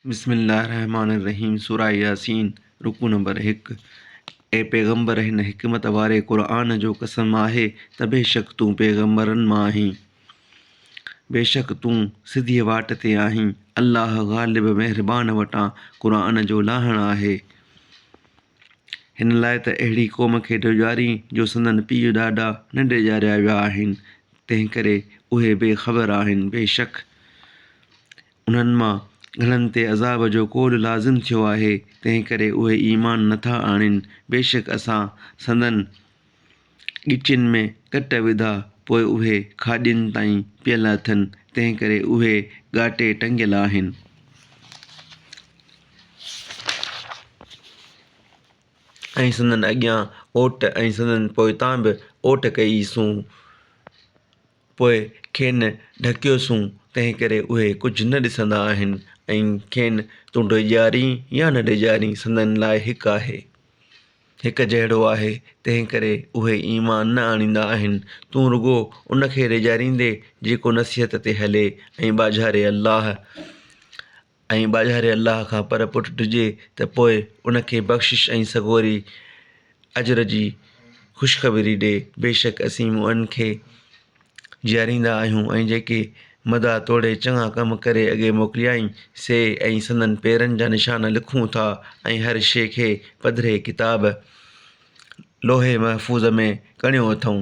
بسم الله الرحمٰن الرحيم سوره ياسين رڪوع نمبر هڪ اي پيغمبر هن حڪمت واري قرآن جو قسم آهي ته بيشڪ تون پيغمبرن مان آهين بيشڪ تون سڌيء واٽ تي آهين الله غالب مهربان وٽان قرآن جو لاهڻ آهي هن لاء ته اهڙي قوم کي ڊيڄاري جو سندن پيء ڏاڏا نه ڊيڄاريا ويا آهن تنهن ڪري اهي بي خبر آهن بيشڪ انهن مان گهڻن تي عذاب جو ڪوڏ لازم ٿيو آهي، تنهنڪري اهي ايمان نه ٿا آڻين، بيشڪ اسان سندن ڳچين ۾ ڪٽ وڌا، پوء اهي کاڄين تائين پيل اٿن، تنهنڪري اهي ڳاٽي ٽنگيل آهن. ۽ سندن اڳيان اوٽ ۽ سندن پوئتان به اوٽ ڪئي سون. پوء کين ڍڪيوسون، تنهنڪري اهي ڪجهه نه ڏسندا آهن ۽ کين تون ڊيڄارين يا نه ڊيڄارين سندن لاء هڪ آهي. هڪ جهڙو آهي، تنهنڪري اهي ايمان نه آڻيندا آهن، تون رڳو ان کي ڊيڄاريندي جيڪو نصيحت تي هلي ۽ ٻاجهاري الله، ۽ ٻاجهاري الله کان پر پٽ ڊڄي ته پوء ان کي بخشش ۽ سڳوري اجر جي خوشخبري ڏي، بيشڪ اسين مؤمنن کي جيئاريندا آهيون ۽ جيڪي مدعا توڙي چڱا ڪم ڪري اڳي موڪليائين سي ۽ سندن پيرن جا نشان لکون ٿا ۽ هر شيء کي پڌري ڪتاب لوح محفوظ ۾ ڪڻيو اٿئون.